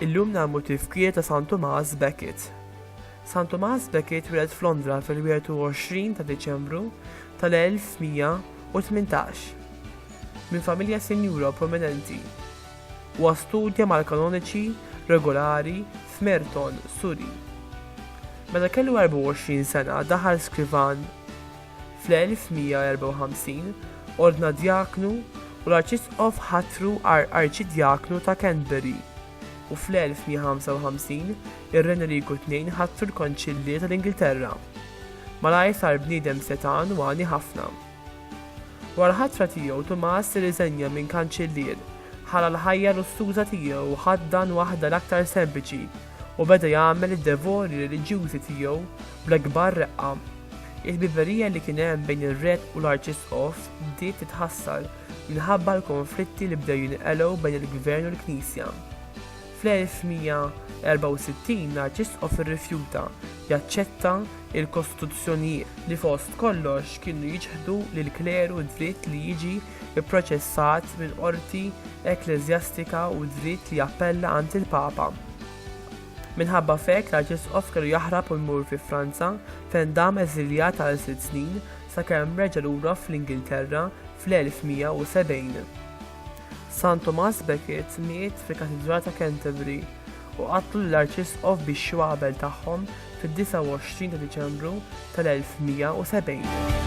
Illum nagħmlu tifkir ta' San Tomas Beckett. San Tomas Beckett wieled f'Londra fil-21 ta' Deċembru tal-1118 minn familja sinjura prominenti. Huwa studja mal-kanoniċi regolari f'Merton, Surrey. Meta kellu 24 sena daħal skrivan fl-1154, ordna djaknu u l-arċisqof ħatru għar arċidjaknu ta' Canterbury, u fl-1155 ir-Re Enriku Tnejn ħatru l-Konċillier tal-Ingilterra. Malajr sar bniedem setgħan u għani ħafna. Wara l-ħatra tiegħu, Tumas irriżenja minn Kanċillier, ħalla l-ħajja lussuża tiegħu u ħaddan waħda l-aktar sempliċi, u beda jagħmel id-devori reliġjużi tiegħu bl-akbar reqqa. Il-ħbiberija li kien hemm bejn ir-Re u l-Arċisqof bdiet titħassar minħabba l-konflitti li bdew jinqelgħu bejn il-Gvern u l-Knisja. Fl-1164 l-Arċisqof irrifjuta jaċċetta l-kostituzzjonijiet, li fost kollox kienu jiċħdu lill-kleru d-dritt li jiġi pproċessat minn qorti ekkleżjastika u d-dritt li jappella għand il-Papa. Minħabba f'hekk l-Arċisqof kellu jaħrab u jmur fi Franza, fejn dam eżiljat għal sitt snin, sakemm reġa' lura fl-Ingilterra fl-1170. San Tomas Becket miet fil-Katidral ta' Canterbury u qatlu lill-Arċisqof bix-xwabel tagħhom fid-29 ta' Diċembru tal-1170.